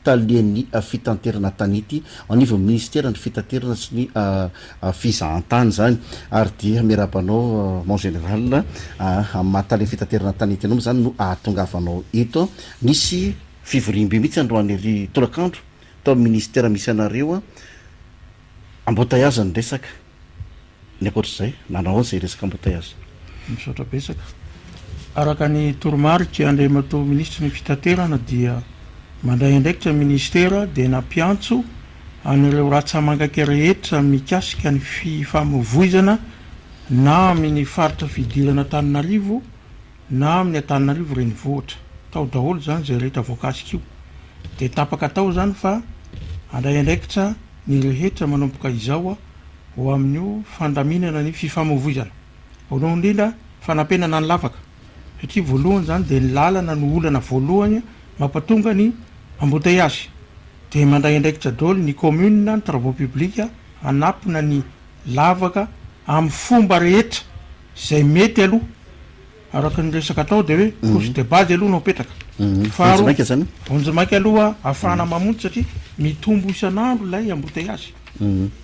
talian'ny fitanterana tanety anivon'ny minisiteran'ny fitaterana sy ny fizahantany izany ary dia miarahaba anao mon général amin'ny maha tale fitaterana tanety anao moa izany no ahatongavanao eto nisy fivoriambe mihitsy androany ery tolakandro tao amin'ny minisitera misy anareo embouteillage ny resaka Ny ankoatra izay, nanao aoka izay resaka embouteillages. Misaotra betsaka. Araka ny toromarika Andriamatoa Minisitry ny Fitaterana dia mandray andraikitra ny Minisitera dia nampiantso an'ireo ratsamangaka rehetra mikasika ny fifamoivoizana na amin'ny faritra fidirana Antananarivo na amin'ny Antananarivo renivohitra. Tao daholo izany izay rehetra voakasika io. Dia tapaka tao izany fa handray andraikitra ny rehetra manomboka izao ho amin'io fandaminana ny fifamoivoizana. Voalohany indrindra, fanampenana ny lavaka, satria voalohany izany dia ny lalana no olana voalohany mampatonga ny embouteillages. Dia mandray andraikitra daholo ny commune, ny travaux publics, hanapona ny lavaka amin'ny fomba rehetra. Izay mety aloha, araka ny resaka atao dia hoe couche de base aloha no apetraka. Faharoa, vonjimaika aloha ahafahana mamonjy satria mitombo isan'andro ilay embouteillage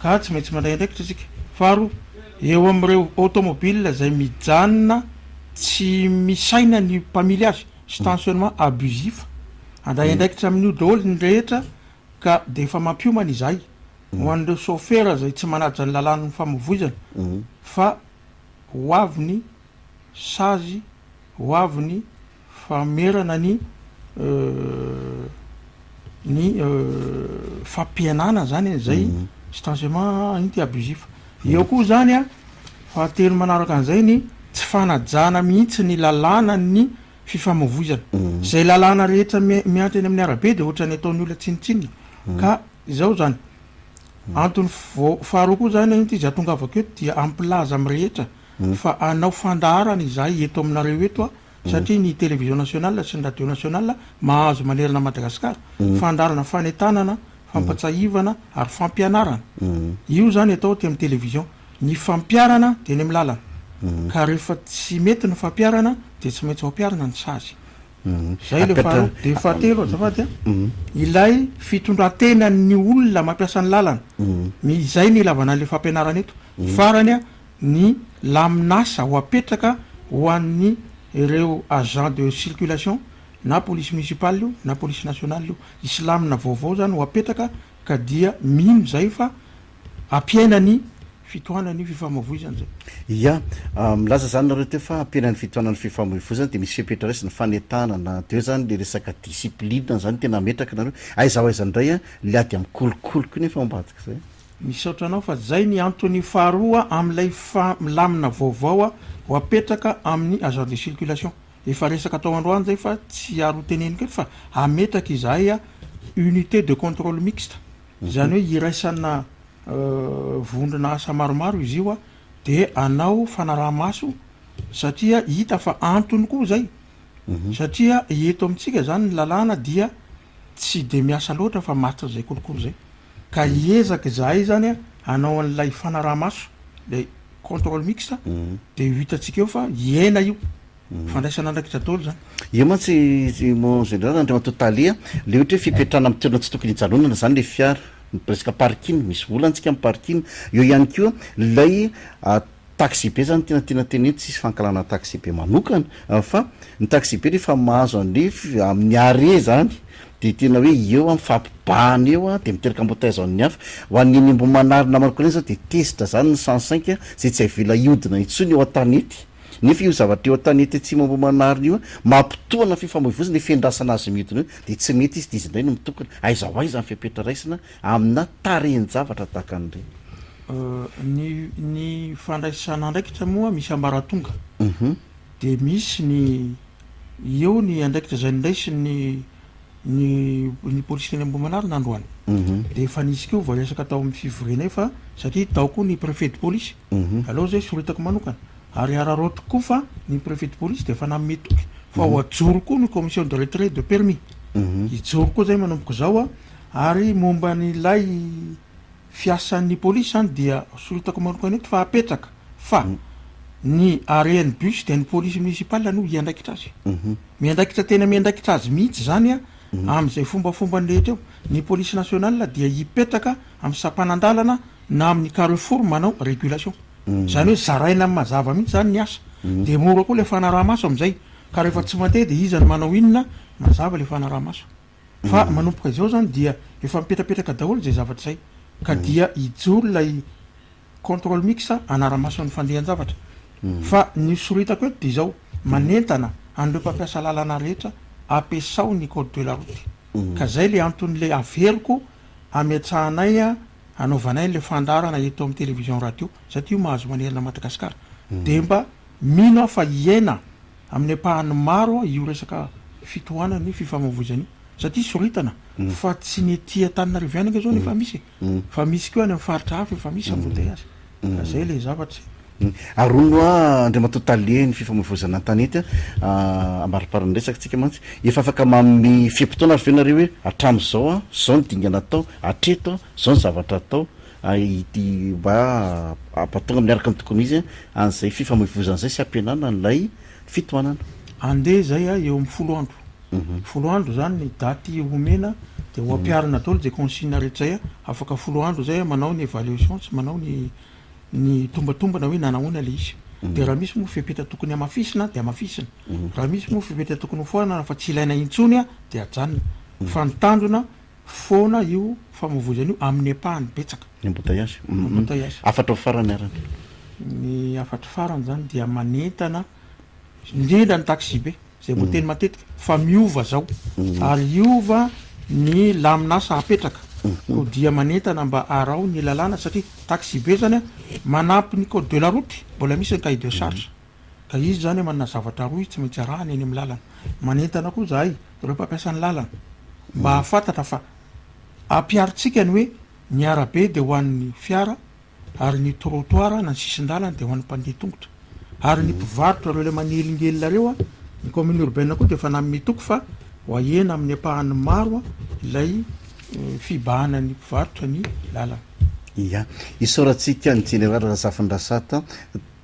ka tsy maintsy mandray andraikitra isika. Faharoa, eo amin'ireo automobile izay mijanona tsy misaina ny mpamily azy, stationnement abusif, handray andraikitra amin'io daholo ny rehetra. Ka dia efa mampiomana izahay, ho an'ireo sôfera izay tsy manaja ny lalàn'ny famoivoizana, fa ho avy ny sazy, ho avy ny famerana ny ny fampihenana izany e, izay stancement anti abusif. Eo koa izany an, fahatelo manaraka an'izay ny tsy fanajana mihitsy ny lalànan'ny. fifamavoizana. Izay lalàna rehetra miantra eny amin'ny arabe dia ohatran'ny ataon'ny olona tsinontsinona ka izao izany. Antony faharoa koa izany anio ity izy ahatongavako eto dia hampilaza amin'ny rehetra fa hanao fandaharana izahay eto aminareo eto satria ny Télévision Nationale sy ny Radio Nationale mahazo manerana an'i Madagasikara fandaharana fanentanana, fampatsahivana ary fampianarana. Io izany atao aty amin'ny Télévision. Ny fampiharana dia eny amin'ny lalana ka rehefa tsy mety ny fampiharana dia tsy maintsy ampiharina ny sazy. Izay ilay faharoa. Dia fahatelo azafady a, ilay fitondran-tenan'ny olona mampiasa ny lalana. Izay ny ilavana an'ilay fampianarana eto. Farany a, ny lamin'asa ho apetraka ho an'ny ireo agents de circulation, na polisy municipal io na polisy national io. Hisy lamina vaovao izany ho apetraka ka dia mino izay fa. hampiaina ny fitohanan'ny fifamavoizana izay. Ia. Milaza izany nareo teo fa hampiaina ny fitohanan'ny fifamavoizana dia misy fepetra raisina ny fanentanana na dia eo izany ilay resaka discipline izany tena hametraka nareo. Aiza ho aiza indray ilay ady amin'ny kolikoliko iny efa ao ambadika izay. Misaotra anao fa izay ny antony faharoa amin'ilay lamina vaovao ho apetraka amin'ny agent de circulation. Efa resaka tao androany izay fa tsy ary ho teneniko eto fa hametraka izahay unité de contrôle mixte. Izany hoe iraisana vondrona asa maromaro izy io dia hanao fanaraha-maso satria hita fa antony koa izay satria eto amintsika izany ny lalàna dia tsy dia miasa loatra fa mahatrizay kolikoly izay ka hiezaka izahay izany hanao an'ilay fanaraha-maso ilay contrôle mixte dia ho hitantsika eo fa hiaina io. Fandraisana andraikitra daholo izany. Io mantsy mon général Andriamatoa Tale a, le ohatra hoe fipetrahana amin'ny toerana tsy tokony hijanonana izany le fiara, resaka parking, misy vola antsika amin'ny parking, eo ihany koa ilay taxibe izany tena tiana tenenina, tsy hisy fankahalana taxibe manokana fa ny taxibe rehefa mahazo an'le amin'ny arret izany dia tena hoe eo an, mifampibahana eo an, dia miteraka embouteillage amin'ny hafa, ho an'ny eny Ambohimanarina manokana eny izao dia tezitra izany ny sens cinq izay tsy avela hihodina intsony eo an-tanety. Nefa io zavatra eo an-tanety atsimo Ambohimanarina io, mampitona fifamoivoizana ifindrasana azy midina io, dia tsy mety izy dia izy indray no mitokona. Aiza ho aiza ny fepetra raisina amina tarehin-javatra tahaka an'ireny? Ny ny fandraisana andraikitra moa misy ambaratonga. Dia misy ny eo ny andraikitra izay niraisin'ny ny ny polisy teny Ambohimanarina androany. Dia efa nisy koa vao hiresaka tao amin'ny fivoriana io fa satria tao koa ny préfet de police. Aleo izay soritako manokana ary araraotiko koa fa ny préfet de police dia efa nanome toky fa ho ajoro koa ny commission de retrait de permis. Hijoro koa izay manomboka izao aho. Ary momba an'ilay fiasan'ny police izany dia soritako manokana eto fa apetraka fa ny arean'ny bus dia ny police municipale no hiandraikitra azy. Miandraikitra tena miandraikitra azy mihitsy izany amin'izay fombafombany rehetra eo. Ny police nationale dia hipetraka amin'ny sampanan-dalana na amin'ny carrefour manao régulation. Izany hoe zaraina amin'ny mazava mihitsy izany ny asa. Dia mora koa ilay fanaraha-maso amin'izay. Ka rehefa tsy mandeha dia iza no manao inona? Mazava ilay fanaraha-maso. Fa manomboka izao izany dia efa mipetrapetraka daholo izay zavatra izay. Ka dia hijoro ilay contrôle mix hanara-maso ny fandehan-javatra. Fa ny hosoritako eto dia izao, manentana an'ireo mpampiasa lalana rehetra, ampiasao ny code de la route. Ka izay ilay anton'ilay averiko ametrahanay. hanaovanay an'ilay fandaharana eto amin'ny television radio za tia mahazo manerana Madagasikara dia mba mino aho fa hiaina amin'ny ampahany maro io resaka fitohanan'ny fifamoivoizana io satria soritana fa tsy ny ety Antananarivo ihany anga zao no efa misy e fa misy koa any amin'ny faritra hafa efa misy embouteillage Ka zay le zavatra e. Aronoa Andriamatoa Tale ny fifamoivoizana an-tanety a, ambariparan'ny resakantsika mantsy, efa afaka manome fe-potoana ary ve nareo hoe hatramin'izao a, zao ny dingana atao, hatreto a, zao ny zavatra atao, ity mba hampatonga miaraka ny tokony ho izy an'izay fifamoivoizana izay sy hampihenana an'ilay fitohanana. Andeha izay a, eo amin'ny folo andro. folo andro zany ny daty homena de ho ampiharina daholo de consigne rehetra zay afaka folo andro zay manao ny evaluation sy manao ny ny tombatombana hoe nanahoana le izy de raha misy moa fepetra tokony hamafisina de hamafisina raha misy moa fepetra tokony hofoanana fa tsy ilaina intsony a de ajanona fa ny tanjona foana io famovoizana io amin'ny ampahany betsaka ny embouteillage embouteillage hafatra ao farany arany ny hafatry farany zany dia manentana indrindra ny taxi be izay voateny matetika fa miova izao ary hiova ny lamin'asa hapetraka koa dia manentana mba araho ny lalàna satria taxibe izany manampy ny code de la route mbola misy ny cahier de charge ka izy izany manana zavatra rohy tsy maintsy arahany eny amin'ny lalana manentana koa izahay ireo mpampiasa ny lalana mba hahafantatra fa ampiharintsika ny hoe ny arabe dia ho an'ny fiara Ary ny trottoir na ny sisin-dalana dia ho an'ny mpandeha tongotra. Ary ny mpivarotra ireo ilay manelingelina ireo, ny commune urbaine koa dia efa nanome toky fa ho ahena amin'ny ampahany maro ilay fibahana ny mpivarotra ny lalana. Ia. Isaorantsika ny Jeneraly Razafindrasata.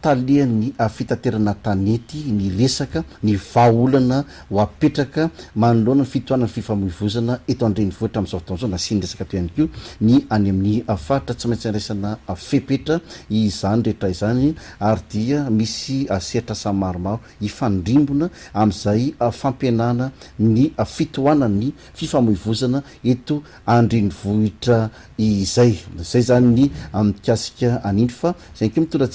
talehan'ny fitaterana tanety ny resaka ny vahaolana ho apetraka manoloana ny fitohanan'ny fifamoivozana eto an-drenivohitra amin'izao fotoan'izao. Nasiany resaka teo ihany koa ny any amin'ny faritra. Tsy maintsy andraisana fepetra izany rehetra izany ary dia misy sehatr'asa maromaro hifandrimbona amin'izay fampihenana ny fitohanan'ny fifamoivozana eto an-drenivohitra izay. Izay izany ny mikasika an'iny fa izay ihany koa mitondra antsika.